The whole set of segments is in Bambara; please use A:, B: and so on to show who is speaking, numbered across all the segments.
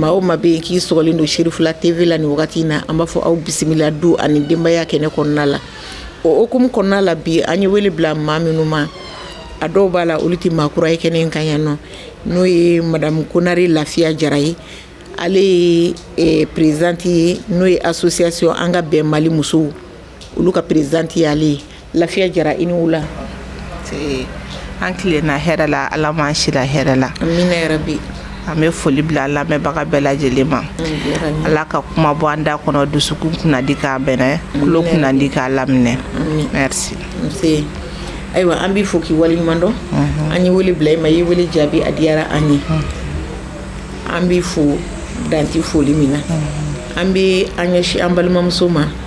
A: Maa o maa bɛ yen k'i sɔgɔlen don Cherifla TV la nin wagati in na an b'a fɔ aw bisimila don ani denbaya kɛnɛ kɔnɔna la o hukumu kɔnɔna la bi an ye wele bila maa minnu ma a dɔw b'a la olu tɛ maa kura ye kɛnɛ kan yan nɔ n'o ye madamu konare lafiya jara ye ale ye présidente ye n'o ye association an ka bɛn mali musow olu ka présidente ye ale ye lafiya jara i ni wula an tilenna hɛrɛ la ala ma an sira hɛrɛ la amiina yarabi an bɛ foli bila lamɛnbaga bɛɛ lajɛlen ma ala ka kuma bɔ an da kɔnɔ dusukun kunnandi k'a bɛnɛ tulo kunnandi k'a laminɛ ayiwa an b'i fo k'i wale ɲuman dɔn an ye wele bila i ma i ye wele jaabi a diyara an ye an b'i fo dan tɛ foli min na an bɛ an ɲɛsin an balimamuso ma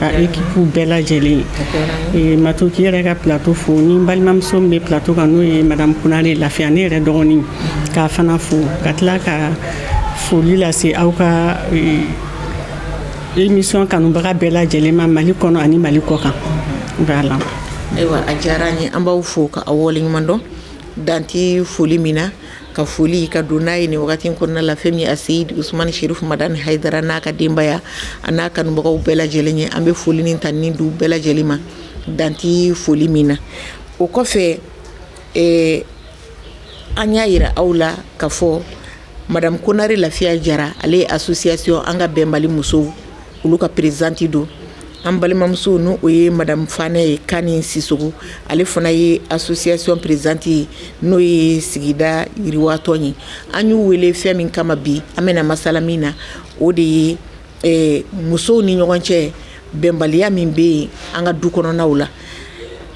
A: Ekipu bɛɛ lajɛlen ye ma k'i yɛrɛ ka plateau fo ne balimamuso min bɛ plateau kan n'o ye madamu konare lafiya ne yɛrɛ dɔgɔnin k'a fana fo ka tila ka foli lase aw ka émission kanubaga bɛɛ lajɛlen ma mali kɔnɔ ani mali kɔkan na ayiwa a diyara an b'aw fo k'aw waleɲumandɔn dan tɛ foli min na ka foli ka don n'a ye nin waati wagati kɔnɔna la fɛn min ye aseyidi usumani serifu madani hayidara n'a ka denbaya a n'a kanubagaw bɛɛ lajɛlen ye an bɛ foli ni tanuni d'u bɛɛ lajɛlen ma dan tɛ foli min na o kɔfɛ an y'a jira aw la ka fɔ madamu konare lafiya jara ale ye association an ka bɛn mali musow olu ka présidente don an balimamuso n'o ye madamu fanɛ ye kani sisoko ale fana ye association présidente ye n'o ye sigida yiriwatɔn ye an y'u wele fɛn min kama bi an bɛna masala min na o de ye musow ni ɲɔgɔn cɛ bɛnbaliya min bɛ yen an ka du kɔnɔnaw la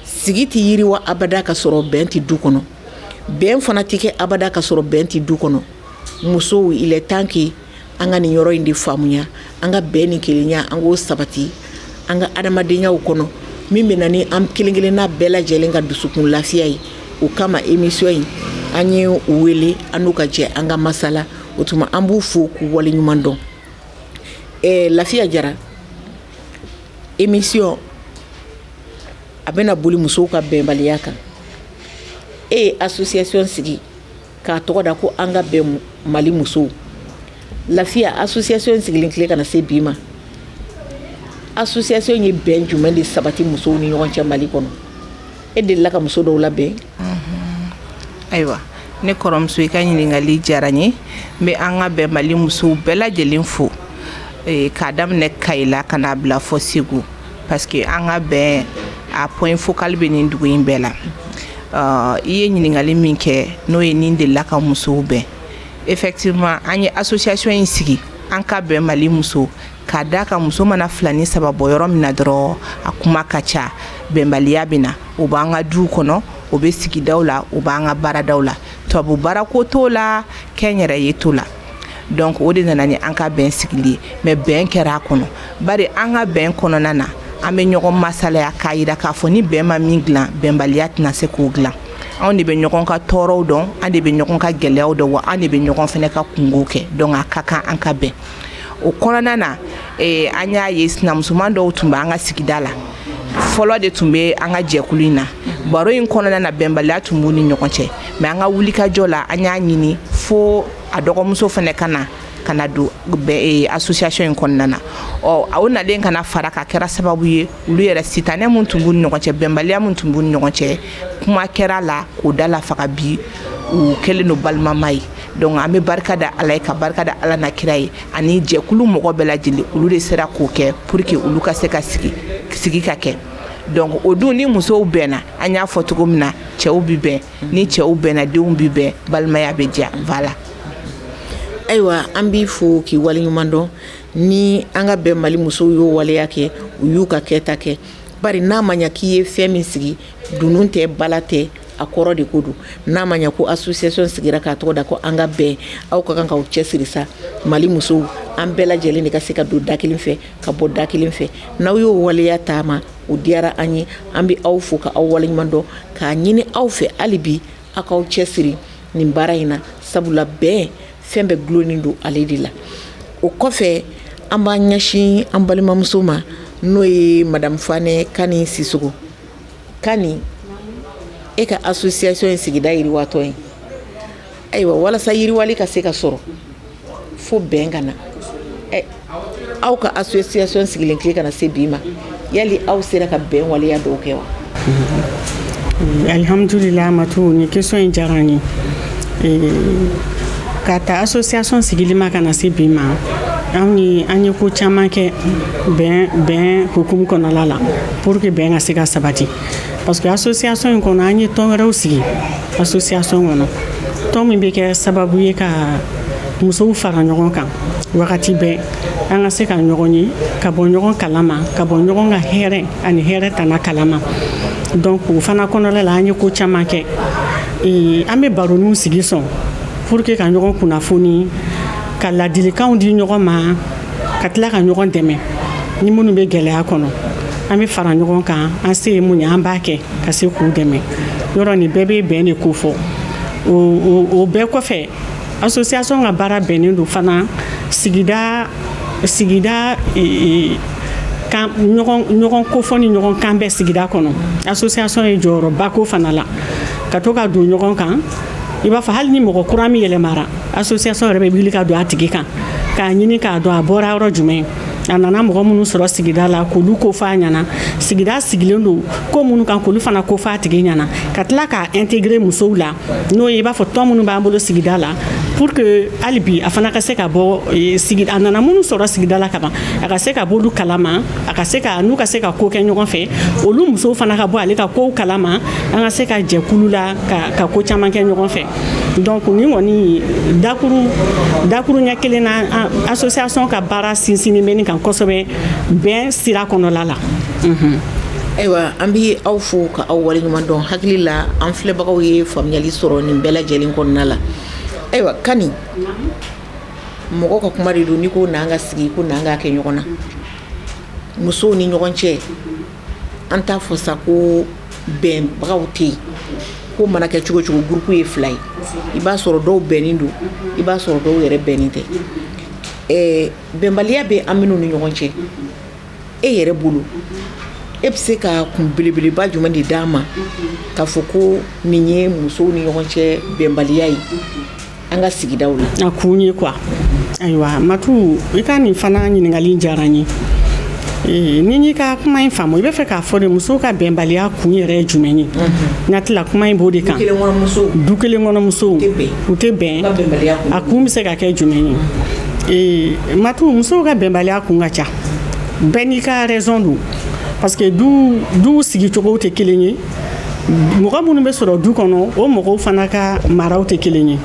A: sigi tɛ yiriwa abada ka sɔrɔ bɛn tɛ du kɔnɔ bɛn fana tɛ kɛ abada ka sɔrɔ bɛn tɛ du kɔnɔ musow yɛrɛ dama cɛ An ka nin yɔrɔ in de faamuya an ka bɛn ni kelenya an k'o sabati an ka adamadenyaw kɔnɔ min bɛ na ni an kelenkelenna bɛɛ lajɛlen ka dusukun lafiya ye o kama émission in an ye u wele an n'u ka jɛ an ka masala o tuma an b'u fo k'u wale ɲuman dɔn ɛ lafiya jara émission bɛna boli musow ka bɛnbaliya kan e ye association sigi k'a tɔgɔ da ko an ka bɛn mali musow lafiya association in sigilen tile ka na se bi ma association ye bɛn jumɛn de sabati musow ni ɲɔgɔn cɛ mali kɔnɔ e delila ka muso dɔw la bɛn ayiwa ne kɔrɔmuso i ka ɲininkali diyara n ye n bɛ an ka bɛn mali musow bɛɛ lajɛlen fo k'a daminɛ kayi la ka n'a bila fo segu parce que an ka bɛn a point focal bɛ nin dugu in bɛɛ la euh, i ye ɲininkali min kɛ n'o ye ni n delila ka musow bɛn effectivement an ye association in sigi an ka bɛn mali muso k'a da kan muso mana fila ni saba bɔ yɔrɔ min na dɔrɔn a kuma ka ca bɛnbaliya bɛ na o b'an ka duw kɔnɔ o bɛ sigidaw la o b'an ka baaradaw la tubabu baarako t'o la kɛnyɛrɛye t'o la donc o de nana ni an ka bɛn sigili ye mais bɛn kɛra a kɔnɔ bari an ka bɛn kɔnɔna na an bɛ ɲɔgɔn masala k'a jira k'a fɔ ni bɛn ma min dilan bɛnbaliya tɛna se k'o dilan anw de bɛ ɲɔgɔn ka tɔɔrɔw dɔn an de bɛ ɲɔgɔn ka gɛlɛyaw dɔn wa an de bɛ ɲɔgɔn fana ka kunko kɛ donc a ka kan an ka bɛn o kɔnɔna na ee, an y'a ye sinamusoman dɔw tun bɛ an ka sigida la fɔlɔ de tun bɛ an ka jɛkulu in na baro in kɔnɔna na bɛnbaliya tun b'u ni ɲɔgɔn cɛ mais an ka wulikajɔ la an y'a ɲini fo a dɔgɔmuso fana ka na ka na don e, association in kɔnɔna na ɔ o nalen ka na fara kan kɛra sababu ye olu yɛrɛ sitanɛ min tun b'u ni ɲɔgɔn cɛ bɛnbaliya min tun b'u ni ɲɔgɔn cɛ kuma kɛra a la k'o da la faga bi u kɛlen don balimama ye donc an bɛ barika da ala ye ka barika da ala n'a kira ye ani jɛkulu mɔgɔ bɛɛ lajɛlen olu de sera k'o kɛ pour que olu ka se ka sigi sigi ka kɛ donc o dun ni musow bɛnna an y'a fɔ cogo min na cɛw bi bɛn ni cɛw bɛnna denw bi bɛn balimaya bɛ diya voilà ayiwa an b'i fo k'i waleɲuman dɔn ni an ka bɛn mali musow y'o waleya kɛ u y'u ka kɛta kɛ bari n'a ma ɲa k'i ye fɛn min sigi dunun tɛ bala tɛ a kɔrɔ de ko don n'a ma ɲɛ ko association sigira k'a tɔgɔ da ko an ka bɛn aw ka kan ka cɛ siri sa mali musow an bɛɛ lajɛlen de ka se ka don da kelen fɛ ka bɔ da kelen fɛ n'aw y'o waleya taama o diyara an ye an bɛ aw fo ka aw waleɲuman dɔn k'a ɲini aw fɛ hali bi aw k'aw cɛ siri nin baara in na sabula bɛn fɛn bɛɛ dulonnen don ale de la o kɔfɛ an b'an ɲɛsin an balimamuso ma n'o ye madame fanɛ kani sisɔkɔ Kani e ka association ye sigida yiriwatɔn ye ayiwa walasa yiriwali ka se ka sɔrɔ fo bɛn ka na aw ka association sigilen ka na se bi ma yali aw sera ka bɛn waleya dɔw kɛ wa alihamdulilayi ma nin question in diyara n ye k'a ta association sigili ma ka na se bi ma anw an ye ko caman kɛ bɛn hukumu kɔnɔla la pour que bɛn ka se ka sabati parce que association in kɔnɔ an ye tɔn wɛrɛw sigi association kɔnɔ tɔn min bɛ kɛ sababu ye ka musow fara ɲɔgɔn kan wagati bɛɛ an ka se ka ɲɔgɔn ye ka bɔ ɲɔgɔn kalama ka bɔ ɲɔgɔn ka hɛrɛ ani hɛrɛ tana kalama donc o fana kɔnɔla la an ye ko caman kɛ an bɛ baroninw sigi souvent pour que ka ɲɔgɔn kunnafoni ka ladilikanw di ɲɔgɔn ma ka tila ka ɲɔgɔn dɛmɛ ni minnu bɛ gɛlɛya kɔnɔ an bɛ fara ɲɔgɔn kan an se ye mun ye an b'a kɛ ka se k'u dɛmɛ yɔrɔ nin bɛɛ bɛ bɛn de ko fɔ o bɛɛ kɔfɛ association ka baara bɛnnen don fana sigida sigida e, e, kan ɲɔgɔn kofɔ ni ɲɔgɔn kan bɛ sigida kɔnɔ association ye jɔyɔrɔ b'a ko fana la ka to ka don ɲɔgɔn kan i b'a fɔ hali ni mɔgɔ kura min yɛlɛmara association yɛrɛ bɛ wuli ka don a tigi kan k'a ɲini k'a dɔn a bɔra yɔrɔ jumɛn a nana mɔgɔ minnu sɔrɔ sigida la k'olu ko f'a ɲɛna sigida sigilen don ko minnu kan k'olu fana ko f'a tigi ɲɛna ka tila k'a intégrer musow la n'o ye i b'a fɔ tɔn minnu b'an bolo sigida la pour que hali bi a fana ka se ka bɔ eh, sigida a nana minnu sɔrɔ sigida la kaban a ka se ka b'olu kalama a ka se ka n'u ka se ka ko kɛ ɲɔgɔn fɛ olu musow fana ka bɔ ale ka kow kalama an ka se ka jɛkulu la ka ka ko caman kɛ ɲɔgɔn fɛ donc ni kɔni dakuru dakuruɲɛ kelen na association ka baara sinsinni bɛ nin kan kosɛbɛ bɛn sira kɔnɔla la ayiwa an bɛ aw fo ka aw waleɲuman dɔn n hakili la an filɛbagaw ye faamuyali sɔrɔ nin bɛɛ lajɛlen kɔnɔna la ayiwa kani mɔgɔ ka kuma de don n'i ko n'an ka sigi ko n'an ka kɛ ɲɔgɔn na musow ni ɲɔgɔn cɛ an t'a fɔ sa ko bɛnbagaw tɛ yen ko mana kɛ cogo o cogo groupe ye fila ye i b'a sɔrɔ dɔw bɛnnen don i b'a sɔrɔ dɔw yɛrɛ bɛnnen tɛ bɛnbaliya bɛ an minnu ni ɲɔgɔn cɛ e yɛrɛ bolo e bɛ se ka kun belebeleba jumɛn de d'an ma ka fɔ ko nin ye musow ni ɲɔgɔn cɛ bɛnbaliya ye an ka sigida la kun ye quoi ayiwa matu i ka nin fana ɲininkali diyara n ye ni n y'i ka kuma in faamu i b'a fɛ k'a fɔ de musow ka bɛnbaliya kun yɛrɛ ye jumɛn ye n'a tilala kuma in b'o de kan du kelen kɔnɔ musow tɛ bɛn a kun bɛ se ka kɛ jumɛn ye matu musow ka bɛnbaliya kun ka ca bɛɛ n'i ka raison don parce que du sigicogo tɛ kelen ye mɔgɔ minnu bɛ sɔrɔ du kɔnɔ o mɔgɔw fana ka maraw tɛ kelen ye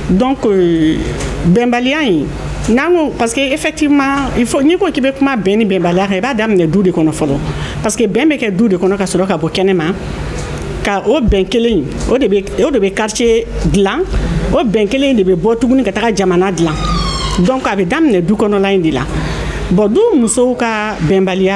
A: donc euh, bɛnbaliya in n'an ko parce que effectivement il faut n'i ko k'i bɛ kuma bɛn ni bɛnbaliya kan i b'a daminɛ du de kɔnɔ fɔlɔ parce que bɛn bɛ kɛ du de kɔnɔ ka sɔrɔ ka bɔ kɛnɛ ma ka o bɛn kelen o de bɛ o de bɛ quartier dilan o bɛn kelen de bɛ bɔ tuguni ka taga jamana dilan donc a bɛ daminɛ du kɔnɔla in de la bon du musow ka bɛnbaliya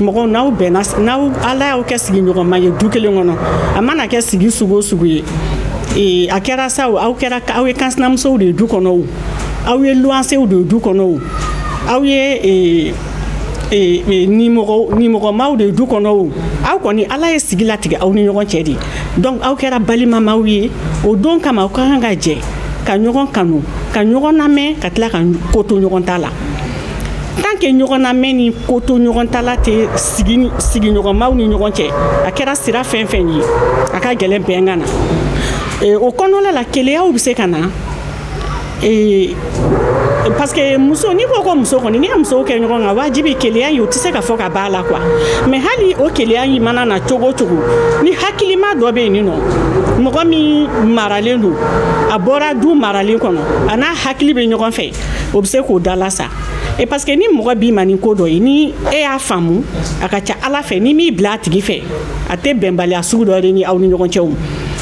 A: mɔgɔ n'aw bɛnna n'aw ala y'aw kɛ sigiɲɔgɔnma ye du kelen kɔnɔ a mana kɛ sigi sugu o sugu ye ee, a kɛra sa aw kɛra aw ye kansinamusow de ye du kɔnɔ o aw ye luwansew de ye du kɔnɔ o aw ye ee, ee, ee, nimɔgɔ nimɔgɔmaw de ye du kɔnɔ o aw kɔni ala ye sigi latigɛ aw ni ɲɔgɔn cɛ dɛ donc aw kɛra balimamaw ye o de kama aw ka kan ka jɛ ka ɲɔgɔn kanu ka ɲɔgɔn lamɛn ka tila ka ko to ɲɔgɔn ta la tant que ɲɔgɔnlamɛn ni kotoɲɔgɔntala tɛ sigi sigiɲɔgɔnmaw ni ɲɔgɔn cɛ a kɛra sira fɛn fɛn ye a ka gɛlɛn bɛn ka na o kɔnɔna la keleyaw bɛ se ka na parce que muso n'i ko ko muso kɔni n'i ye musow kɛ ɲɔgɔn kan wajibi keleya in o tɛ se ka fɔ ka b'a la quoi mais hali o keleya in mana na cogo o cogo ni hakilima dɔ bɛ yen i n'a fɔ mɔgɔ min maralen don a bɔra du maralen kɔnɔ a n'a hakili bɛ ɲɔgɔn fɛ o bɛ se k'o dalasa e parce que ni mɔgɔ b'i ma nin ko dɔ ye ni e y'a faamumu a ka ca a la fɛ n'i m'i bila a tigi fɛ a tɛ bɛnbaliya sugu dɔ de ni aw ni ɲɔgɔn cɛ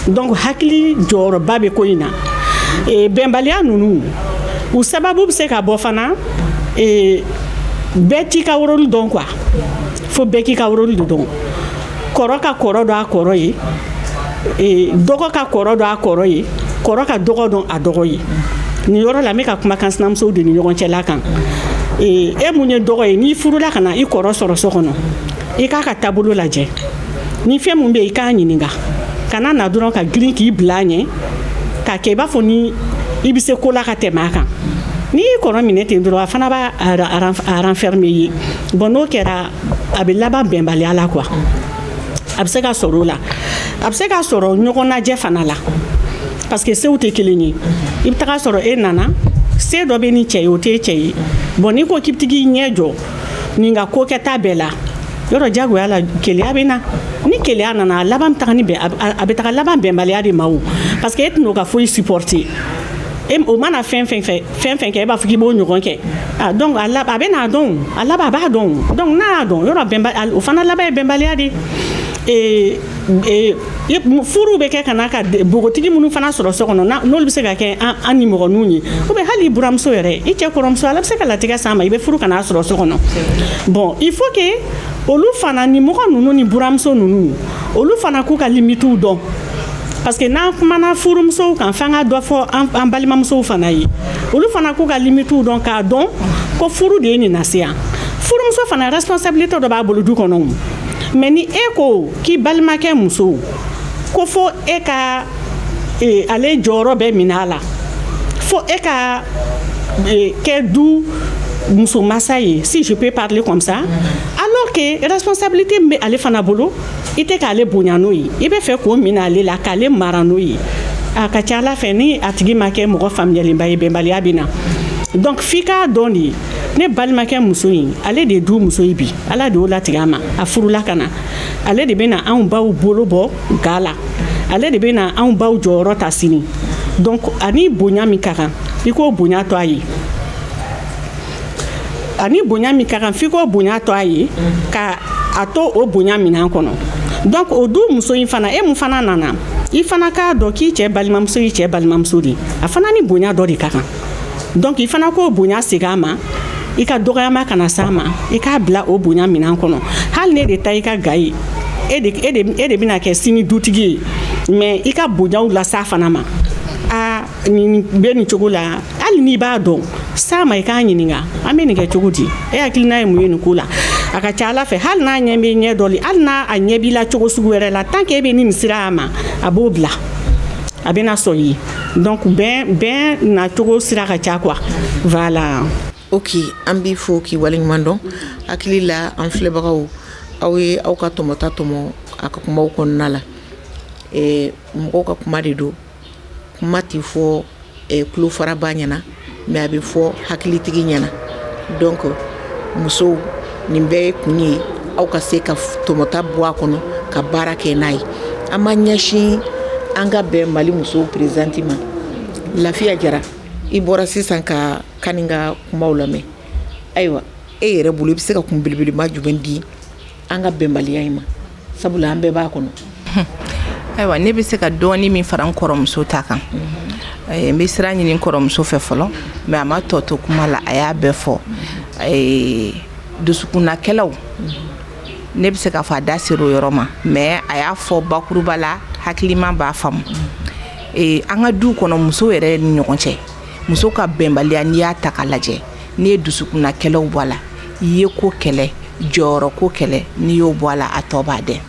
A: donc hakili jɔyɔrɔba bɛ ko in na e, bɛnbaliya ninnu u sababu bɛ se ka bɔ fana e, bɛɛ t'i ka rôle dɔn quoi fo bɛɛ k'i ka rôle dɔn kɔrɔ ka kɔrɔ dɔn a kɔrɔ ye dɔgɔ ka kɔrɔ dɔn a kɔrɔ ye kɔrɔ ka dɔgɔ dɔn a dɔgɔ ye nin yɔrɔ la n bɛ ka kuma kansinamusow de ni ɲɔgɔn cɛla kan e min ye dɔgɔ ye n'i furula ka na i kɔrɔ sɔrɔ so kɔnɔ i k'a ka taabolo lajɛ ni fɛn min bɛ i k'a ɲininka kana na dɔrɔn ka girin k'i bila a ɲɛ k'a kɛ i b'a fɔ ni i bɛ se ko la ka tɛmɛ a kan n'i y'i kɔrɔ minɛ ten dɔrɔn a fana b'a renfermer bon n'o kɛra a bɛ laban bɛnbaliya la quoi a bɛ se ka sɔrɔ o la a bɛ se ka sɔrɔ ɲɔgɔnnajɛ fana la parce que sew tɛ kelen ye i bɛ taga sɔrɔ e nana se dɔ bɛ nin cɛ ye o tɛ e cɛ ye bon n'i ko k'i bɛ taa k'i ɲɛ jɔ nin ka ko kɛta bɛɛ la yɔrɔ diyagoya la keleya bɛ na ni keleya nana a laban a bɛ taa laban bɛnbaliya de ma o parce que e tɛna o ka foyi supporter e o mana fɛn fɛn fɛ fɛn fɛn kɛ e b'a fɔ k'i b'o ɲɔgɔn kɛ a donc a lab a bɛ n'a dɔn a laban a b'a dɔn donc n'a y'a dɔn yɔrɔ bɛnba o fana laban ye bɛnbaliya de ee ee furuw bɛ kɛ ka n'a ka npogotigi minnu fana sɔrɔ so kɔnɔ n'olu bɛ se ka kɛ an nimɔgɔninw ye ou bien hali i buramuso yɛrɛ i cɛ kɔrɔmuso Ala bɛ se k'a latigɛ s'a ma i bɛ furu ka n'a sɔrɔ so kɔnɔ bon il faut que olu fana nimɔgɔ ninnu ni buramuso ninnu olu fana k'u ka limite dɔn parce que n'an kumana furumusow kan f'an ka dɔ fɔ an balimamusow fana ye olu fana k'u ka limitiw dɔn k'a dɔn ko furu de ye nin lase yan furumuso fana responsabilité dɔ b'a bolo du kɔnɔ o mais ni e ko k'i balimakɛ muso ko fo e ka e, ale jɔyɔrɔ bɛɛ minɛ a la fo e ka e, kɛ du muso masa ye si je peux parler comme ça alors que responsabilité min bɛ ale fana bolo i tɛ k'ale bonya n'o ye i b'a fɛ k'o minɛ ale la k'ale mara n'o ye a ka ca a la fɛ ni a tigi ma kɛ mɔgɔ faamuyalenba ye bɛnbaliya bɛ na donc f'i k'a dɔn de ne balimakɛ muso in ale de ye du muso ye bi ala de y'o latigɛ a ma a furula ka na ale de bɛ na anw baw bolo bɔ ga la ale de bɛ na anw baw jɔyɔrɔ ta sini donc ani bonya min ka kan i k'o bonya to a ye ani bonya min ka kan f'i k'o bonya to a ye ka a to o bonya minan kɔnɔ donc o du muso in fana e min fana nana i fana k'a dɔn k'i cɛ balimamuso y'i cɛ balimamuso de a fana ni bonya dɔ de ka kan donc i fana k'o bonya segin a ma i ka dɔgɔyama kana s'a ma i k'a bila o bonya minan kɔnɔ hali n'e de ta i ka ga ye e de bɛna kɛ sini dutigi ye mais i ka bonyaw las'a fana ma aa bɛ nin cogo la hali n'i b'a dɔn s'a ma i k'a ɲininka an bɛ nin kɛ cogo di e hakilina ye mun ye nin ko la a ka ca a la fɛ hali n'a ɲɛ bɛ ɲɛ dɔ hali n'a a ɲɛ b'i la cogo sugu wɛrɛ la tan kɛ e bɛ nimisa a ma a b'o bila a bɛna sɔn i ye donc bɛn bɛn na cogo sira ka ca kuwa la o k' an b'i fo k'i waleɲuman dɔn hakili la an filɛbagaw aw ye aw ka tɔmɔta tɔmɔ a ka kumaw kɔnɔna la mɔgɔw ka kuma de don kuma tɛ fɔ tulofaraba ɲɛna mais a bɛ fɔ hakilitigi ɲɛna donc musow nin bɛɛ kun ye aw ka se ka tɔmɔta bɔ a kɔnɔ ka baara kɛ n'a ye an ma ɲɛsin an ka bɛn mali musow présidente ma lafiya jara i bɔra sisan ka kani ka kumaw lamɛn ayiwa e yɛrɛ bolo i bɛ se ka kun belebeleba jumɛn di an ka bɛnbaliya in ma sabula an bɛɛ b'a kɔnɔ ayiwa ne bɛ se ka dɔɔni min fara n kɔrɔmuso ta kan eh, n bɛ sira ɲini kɔrɔmuso fɛ fɔlɔ mais a ma tɔ to kuma la a y'a bɛɛ fɔ eh, dusukunnakɛlaw ne bɛ se k'a fɔ a da sera o yɔrɔ ma mais a y'a fɔ bakuruba la hakilima b'a faamu eh, an ka du kɔnɔ muso yɛrɛ ni ɲɔgɔn cɛ muso ka bɛnbaliya n'i y'a ta k'a lajɛ n'i ye dusukunnakɛlɛw bɔ a la i ye ko kɛlɛ jɔyɔrɔ ko kɛlɛ n'i y'o bɔ a la a tɔ b'a dɛ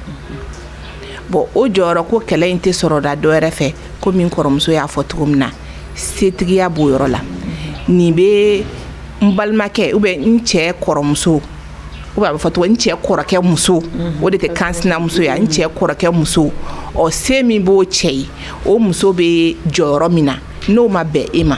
A: bɔn o jɔyɔrɔ ko kɛlɛ in tɛ sɔrɔ da dɔw yɛrɛ fɛ ko min kɔrɔmuso y'a fɔ cogo min na setigiya b'o yɔrɔ la nin bɛ n balimakɛ u bɛ n cɛ kɔrɔmuso u b'a fɔ tɔgɔ n cɛ kɔrɔkɛ muso mhm. o de tɛ kɛ n sinamuso ye n cɛ kɔrɔkɛ muso ɔ se min b'o cɛ ye o muso bɛ jɔyɔrɔ min na n'o ma bɛn e ma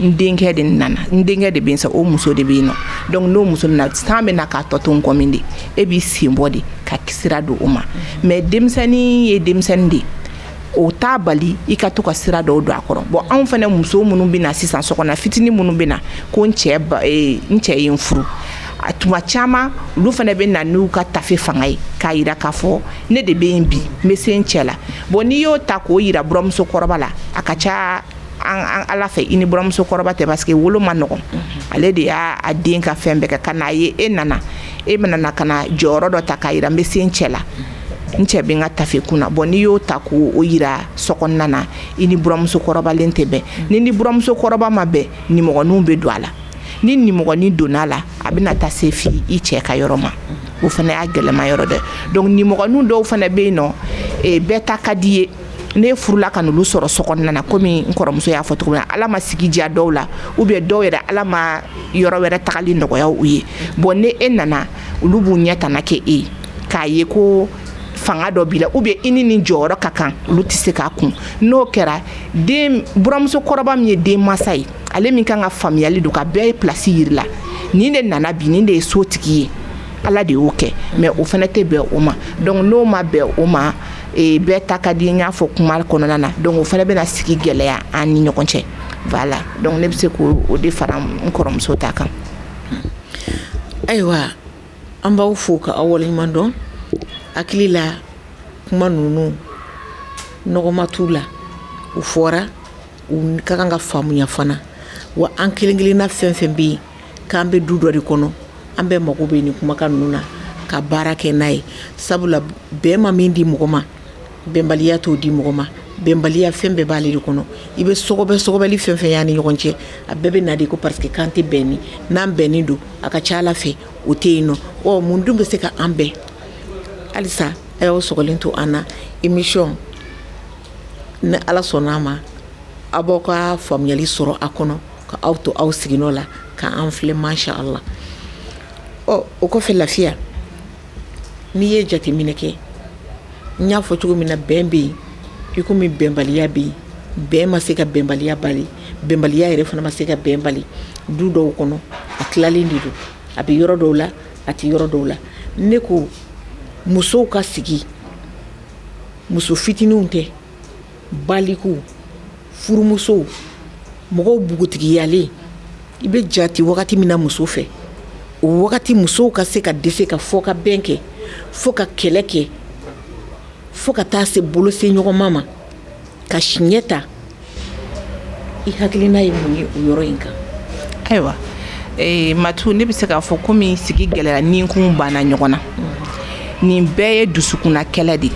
A: n denkɛ de nana n denkɛ de bɛ sa o muso de bɛ yen nɔ dɔnku n'o muso na san bɛ na k'a tɔ to kɔ min de e b'i sen bɔ de ka kisira don o ma mɛ denmisɛnnin ye denmisɛnnin de ye o t'a bali i ka to ka sira dɔw don a kɔrɔ bɔn anw fana muso minnu bɛ na sisan so kɔnɔ fitinin minnu bɛ na ko n cɛ n cɛ ye n furu a tuma caman olu fana bɛ na n'u ka tafe fanga ye k'a jira k'a fɔ ne de bɛ yen bi n bɛ se n cɛ la bɔn n'i y'o ta k'o jira buramuso kɔrɔba la a ka ca an a la fɛ i ni buramuso kɔrɔba tɛ parce que wolo man nɔgɔn ale de y'a den ka fɛn bɛɛ kɛ ka n'a ye e nana e man kan ka na jɔyɔrɔ dɔ ta k'a jira n bɛ se n cɛ la n cɛ bɛ ka tafe kun na bɔn n'i y'o ta k'o jira so nana i ni buramuso kɔrɔba in tɛ bɛn n'i ni buramuso kɔrɔba ma bɛn nimɔgɔnin bɛ don a la ni nimɔgɔnin donna a la a bɛ na taa se fo i cɛ ka yɔrɔ ma o fana y'a gɛlɛyama yɔrɔ dɛ dɔnku nimɔgɔnin dɔw fana bɛ yen nɔ bɛɛ ta ka di ye ne furula ka olu sɔrɔ so nana komi kɔrɔmuso y'a fɔ cogo min ala ma sigi diya dɔw la u bɛ dɔw yɛrɛ ala ma yɔrɔ wɛrɛ tagali nɔgɔya u ye bɔn n'e nana olu b'u ɲɛ tan kɛ e ye k'a ye ko fanga dɔ b'i la u bɛ i ni ni jɔyɔrɔ ka kan olu tɛ se k'a kun n'o kɛra denmuso kɔrɔba min ye den mansa ye ale min kan ka faamuyali don ka bɛɛ i plasi jira i la nin de nana bi nin de ye so tigi ye ala de y'o kɛ mɛ o fana tɛ bɛn o ma dɔnku n'o ma bɛn o ma ee bɛɛ ta ka di n y'a fɔ kuma kɔnɔna na dɔnku o fana bɛna sigi gɛlɛya an ni ɲɔgɔn cɛ voilà dɔnku ne bɛ se k'o de fara n kɔrɔmuso ta kan ayiwa an b'aw fo ka aw waleɲuman dɔn hakili la kuma ninnu nɔgɔma tu la u fɔra u ka kan ka faamuya fana wa an kelen-kelenna fɛn fɛn bɛ yen K'an bɛ du dɔ de kɔnɔ an bɛɛ mago bɛ nin kumakan ninnu na ka baara kɛ n'a ye sabula bɛn ma min di mɔgɔ ma bɛnbaliya t'o di mɔgɔ ma bɛnbaliya fɛn bɛɛ b'ale de kɔnɔ i bɛ sokɛbɛ soli fɛn fɛn y'a ni ɲɔgɔn cɛ a bɛɛ bɛ na de ko parce que k'an tɛ bɛn nin n'an bɛnnen don a ka ca a la fɛ o tɛ yen nɔ ɔ mun dun bɛ se ka an bɛn halisa a y'aw sogolen to an na émission ni ala sɔnna a ma aw b'aw ka faamuyali sɔrɔ a kɔnɔ ka aw to aw sigi la ka an filɛ mayɛ aw la ɔ o kɔfɛ lafiya n'i ye jateminɛ kɛ n y'a fɔ cogo min na bɛn bɛ yen i komi bɛnbaliya bɛ yen bɛn ma se ka bɛnbaliya bali bɛnbaliya yɛrɛ fana ma se ka bɛn bali du dɔw kɔnɔ a tilalen de don a bɛ yɔrɔ dɔw la a tɛ yɔrɔ dɔw la ne ko musow ka sigi muso fitininw tɛ baliku furumusow mɔgɔw bugutigiyalen i bɛ jate wagati min na muso fɛ o wagati musow ka se ka dɛsɛ ka fɔ ka bɛn kɛ fo ka kɛlɛ kɛ fo ka taa se bolo se ɲɔgɔn ma ma ka siɲɛ ta i hakilina ye mun ye o yɔrɔ in kan ayiwa eh, matu ne bɛ se k'a fɔ komi sigi gɛlɛya ninkun banna ɲɔgɔn na nin bɛɛ ye dusukunna kɛlɛ de ye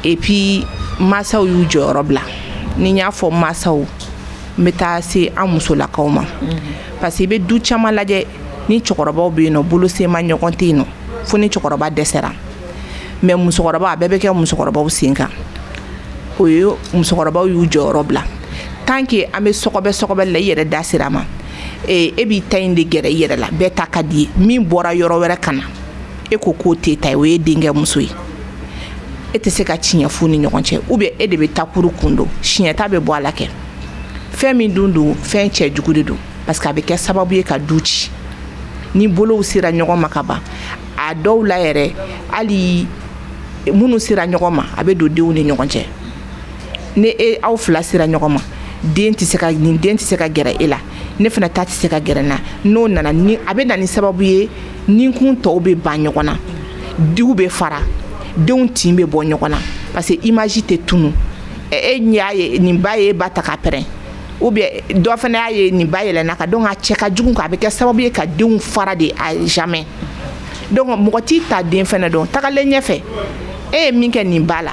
A: et puis masaw y'u jɔyɔrɔ bila ni n y'a fɔ masaw n bɛ taa se an musolakaw ma parce que i bɛ du caman lajɛ ni cɛkɔrɔbaw bɛ yen nɔ bolo sema ɲɔgɔn tɛ yen nɔ fo ni cɛkɔrɔba dɛsɛra mais musokɔrɔba a bɛɛ bɛ kɛ musokɔrɔbaw sen kan o ye musokɔrɔbaw y'u jɔyɔrɔ bila tant que an bɛ sɔgɔbɛ sɔgɔbɛ la i yɛrɛ da sera a ma e b'i ta in de gɛrɛ i yɛrɛ la bɛɛ ta ka d'i ye min bɔra yɔrɔ wɛrɛ ka na e ko k'o tɛ ta o ye denkɛ muso ye e tɛ se ka tiɲɛ fɔ ni ɲɔgɔn cɛ u bɛ e de bɛ takurun kun don siɲɛta bɛ bɔ a la kɛ fɛn min dun don fɛn cɛjugu de don parce que a bɛ kɛ sababu ye ka du ci ni bolow sera ɲɔgɔn ma ka ban a dɔw la yɛrɛ hali minnu sera ɲɔgɔn ma a bɛ don denw ni ɲɔgɔn cɛ ni e aw fila sera ɲɔgɔn ma den tɛ se ka nin den tɛ se ka gɛrɛ e la ne fana ta tɛ se ka gɛrɛ na n'o nana ni a bɛ na ni sababu ye ni kun tɔw bɛ ban ɲɔgɔn na denw bɛ fara denw tin bɛ bɔ ɲɔgɔn na parce que image tɛ tunun e y'a ye nin ba ye e ba ta k'a pɛrɛn u bɛ dɔ fana y'a ye nin ba yɛlɛna a kan donc a cɛ ka jugu kan a bɛ kɛ sababu ye ka denw fara de à jamais donc mɔgɔ t'i ta den fana dɔn tagalen ɲɛfɛ e ye min kɛ nin ba la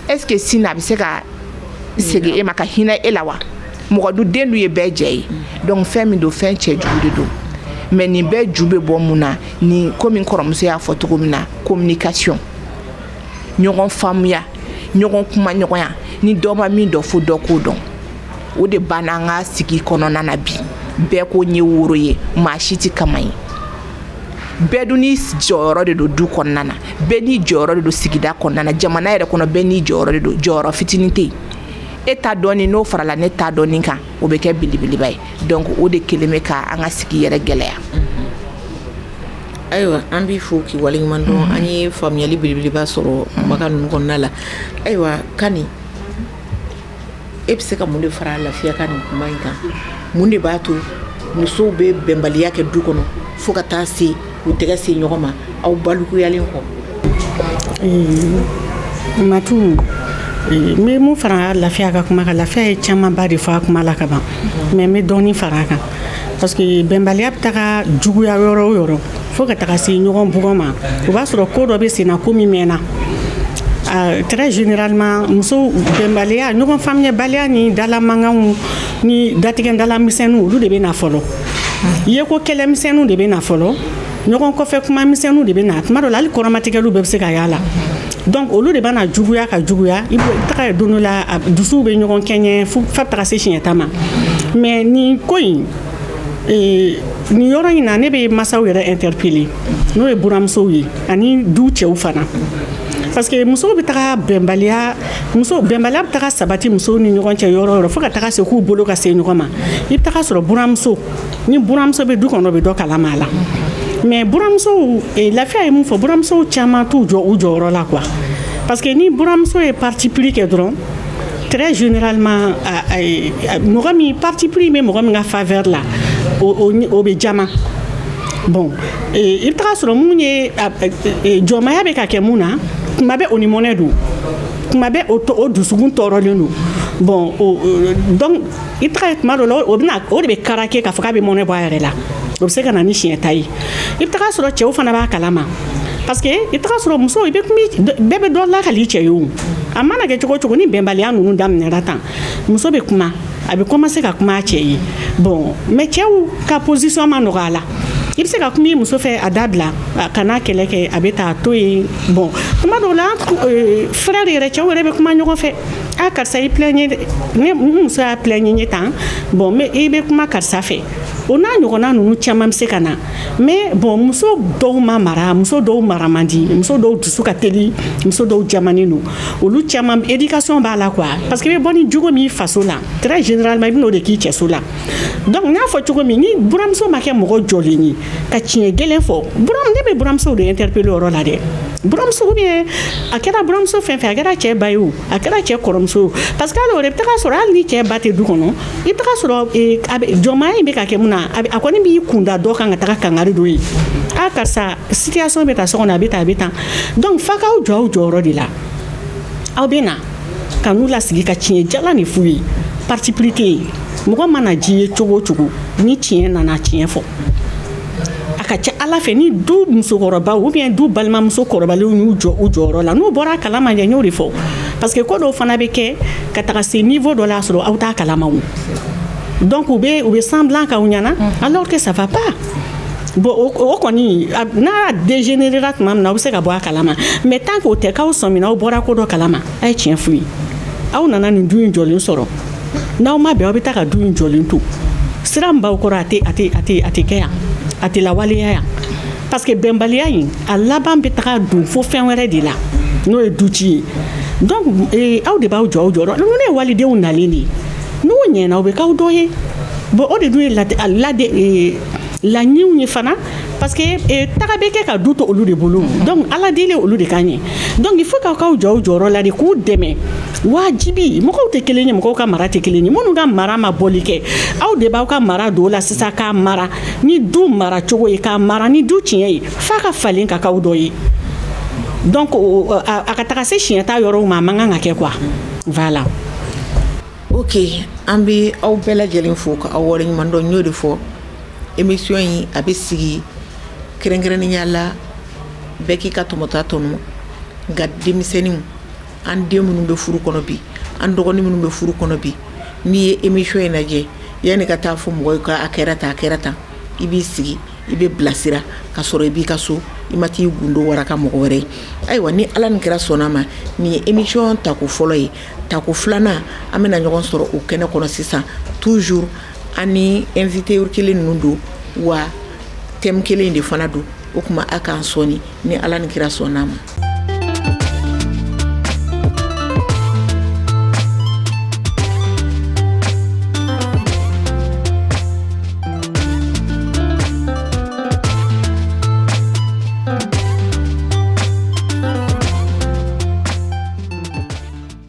A: est ce que sini a bɛ se ka segin e ma ka hinɛ e la wa mɔgɔ du den du ye bɛɛ jɛ ye donc fɛn min don fɛn cɛjugu de don mais nin bɛɛ ju bɛ bɔ mun na ni komi n kɔrɔmuso y'a fɔ cogo min na communication ɲɔgɔn faamuya ɲɔgɔn kumaɲɔgɔnya ni dɔ ma min dɔn fo dɔ k'o dɔn o de banna an ka sigi kɔnɔna na bi bɛɛ ko n ye woro ye maa si tɛ kaman ye bɛɛ dun n'i jɔyɔrɔ de don du kɔnɔna na bɛɛ n'i jɔyɔrɔ de don sigida kɔnɔna na jamana yɛrɛ kɔnɔ bɛɛ n'i jɔyɔrɔ de don jɔyɔrɔ fitinin tɛ yen e ta dɔɔni n'o farala ne ta dɔɔni kan o bɛ kɛ belebeleba ye donc o de kelen bɛ ka an ka sigi yɛrɛ gɛlɛya ayiwa an b'i fo k'i waleɲuman dɔn an ye faamuyali belebeleba sɔrɔ kumakan ninnu kɔnɔna la ayiwa kani e bɛ se ka mun de fara lafiya ka nin kuma in kan mun de b'a to musow bɛ bɛnbaliya kɛ du kɔnɔ fo ka taa se u tɛgɛ se ɲɔgɔn ma aw bonyalen kɔ matu n bɛ min fara lafiya ka kuma kan lafiya ye camanba de fɔ a kuma la ka ban mais n bɛ dɔɔnin fara a kan parce que bɛnbaliya bɛ taga juguya yɔrɔ o yɔrɔ fo ka taga se ɲɔgɔn bugɔ ma o b'a sɔrɔ ko dɔ bɛ senna ko min mɛnna très généralement muso bɛnbaliya ɲɔgɔn faamuyabaliya ni dala mankanw ni datigɛdalamisɛnninw olu de bɛ na fɔlɔ ye ko kɛlɛmisɛnninw de bɛ na fɔlɔ ɲɔgɔn kɔfɛ kumamisɛnninw de bɛ na tuma dɔ la hali kɔrɔmatigɛliw bɛɛ bɛ se ka y'a la donc olu de bɛna juguya ka juguya i bɛ taga don dɔ la a dusuw bɛ ɲɔgɔn kɛɲɛ fo a bɛ taga se siɲɛta ma mais nin ko in ee, nin yɔrɔ in na ne bɛ masaw yɛrɛ interpeller n'o ye buramusow ye ani du cɛw fana parce que musow bɛ taga bɛnbaliya muso bɛnbaliya bɛ taga sabati musow ni ɲɔgɔn cɛ yɔrɔ o yɔrɔ fo ka taga se k'u bolo ka se ɲɔgɔn ma i bɛ taga sɔrɔ buramuso ni buramuso bɛ du kɔnɔ bɛ dɔ kalama a la mais buramusow eh, lafiya ye min fɔ buramusow caman t'u jɔ u jɔyɔrɔ la quoi parce que ni buramuso ye parti pris kɛ dɔrɔn très généralement mɔgɔ min parti pris bɛ mɔgɔ min ka faveur la o bɛ jaman bon i bɛ taga sɔrɔ min ye jɔnmaya bɛ ka kɛ min na tuma bɛɛ o ni mɔnɛ don tuma bɛɛ o dusukun tɔɔrɔlen don bon i tuma dɔ la o o de bɛ kara kɛ ka faga bɛ mɔnɛ bɔ a yɛrɛ la o bɛ se ka na ni siɲɛta ye i bɛ taga sɔrɔ cɛw fana b'a kalama parce que i sɔrɔ muso bɛɛ bɛ dɔ lakali cɛ ye o a mana kɛ cogo o cogo ni bɛnbaliya ninnu daminɛyara tan muso bɛ kuma a bɛ commencer ka kuma cɛ ye bon mais cɛw ka position ma nɔgɔya a la i bɛ se ka kuma i muso fɛ a dabila kana kɛlɛ kɛ a bɛ taa to yen bon tuma dɔw la fɛrɛɛrɛ de yɛrɛ cɛw yɛrɛ bɛ kuma ɲɔgɔn fɛ a karisa i ye muso y'a p ɲɛ ye tan bon mais i bɛ kuma karisa fɛ o n'a ɲɔgɔnna ninnu caman bɛ se ka na mais bon muso dɔw ma mara muso dɔw mara man di muso dɔw dusu ka teli muso dɔw jamannen don olu caman éducation b'a la quoi a parce que bɛ bɔ ni jogo min faso la très généralement i bɛna o de k'i cɛso la Donc n y'a fɔ cogo min ni buramuso ma kɛ mɔgɔ jɔlen ye ka tiɲɛ gɛlɛn fɔ buram ne bɛ buramusow de interpeller o yɔrɔ la dɛ buramuso ou bien a kɛra buramuso fɛn o fɛn a kɛra cɛ ba ye o a kɛra cɛ kɔrɔmuso ye o parce que hali o la i bɛ taa sɔrɔ hali ni cɛ ba tɛ du kɔnɔ i bɛ taa sɔrɔ ee a bɛ jɔnmaya in bɛ ka kɛ min na a bɛ a kɔni b'i kun da dɔ kan ka taga kangari d'o ye a karisa situation bɛ tan so kɔnɔ a bɛ tan a bɛ tan donc f'aw k'aw jɔ aw jɔyɔrɔ de la aw bɛ na ka n'u lasigi ka tiɲɛ jalan de f'u ye parti pris tɛ yen mɔgɔ mana diy'i ye cogo o cogo ni tiɲɛ nana tiɲɛ fɔ a ka ca ala fɛ ni du musokɔrɔbaw bɛ yen du balimamuso kɔrɔbalenw y'u jɔ u jɔyɔrɔ la n'u bɔra a kalama ne y'o de fɔ parce que ko dɔw fana bɛ kɛ ka taga se niveau dɔ la y'a sɔrɔ aw t'a kalama donc u bɛ u bɛ semblant kɛ ɲɛ na alors que ça va pas Bon o kɔni n'a y'a degenerera tuma min na aw bɛ se ka bɔ a kalama mais tant que o tɛ k'aw sɔmina aw bɔra ko dɔ kalama a ye tiɲɛ f'u ye aw nana nin du in jɔlen sɔrɔ n'aw ma bɛn aw bɛ taa ka du in jɔlen to sira min b'aw kɔrɔ a tɛ a tɛ a tɛ a tɛ kɛ yan a tɛ lawaleya yan parce que bɛnbaliya in a laban bɛ taga don fo fɛn wɛrɛ de la n'o ye du ci ye donc aw de b'aw jɔ aw jɔyɔrɔ la ninnu ye walidenw nalen de ye n'u ɲɛna u bɛ k'aw dɔ ye bon o de dun ye lade lade laɲiniw ye fana parce que eh, taga bɛ kɛ ka du to olu de bolo donc ala deli olu de kan ye donc il faut k'aw k'aw jɔ aw jɔyɔrɔ la de k'u dɛmɛ wajibi mɔgɔw tɛ kelen ye mɔgɔw ka mara tɛ kelen ye minnu ka mara ma bɔli kɛ aw de b'aw ka mara don o la sisan k'a mara ni du mara cogo ye k'a mara ni du tiɲɛ ye f'a ka falen ka k'aw dɔ ye donc a ka taga se siɲɛ ta yɔrɔw ma a man kan ka kɛ quoi voilà. Ok an bɛ aw bɛɛ lajɛlen fo ka aw waleɲumandɔn n y'o de fɔ émission in a bɛ sigi kɛrɛnkɛrɛnya la bɛɛ k'i ka tɔmɔta tɔmɔ nka denmisɛnninw an den minnu bɛ furu kɔnɔ bi an dɔgɔnin minnu bɛ furu kɔnɔ bi n'i ye émission in lajɛ yanni ka taa fɔ mɔgɔw ka a kɛra tan a kɛra tan i b'i sigi i bɛ bilasira ka sɔrɔ i b'i ka so i ma t'i gundo waraka mɔgɔ wɛrɛ ye ayiwa ni ala ni kira sɔnna a ma nin ye émission tako fɔlɔ ye Tako filanan an bɛna ɲɔgɔn sɔrɔ o kɛnɛ kɔnɔ sisan toujours an ni invité kelen ninnu don wa thème kelen de fana don o tuma a k'an sɔɔni ni ala ni kira sɔnna a ma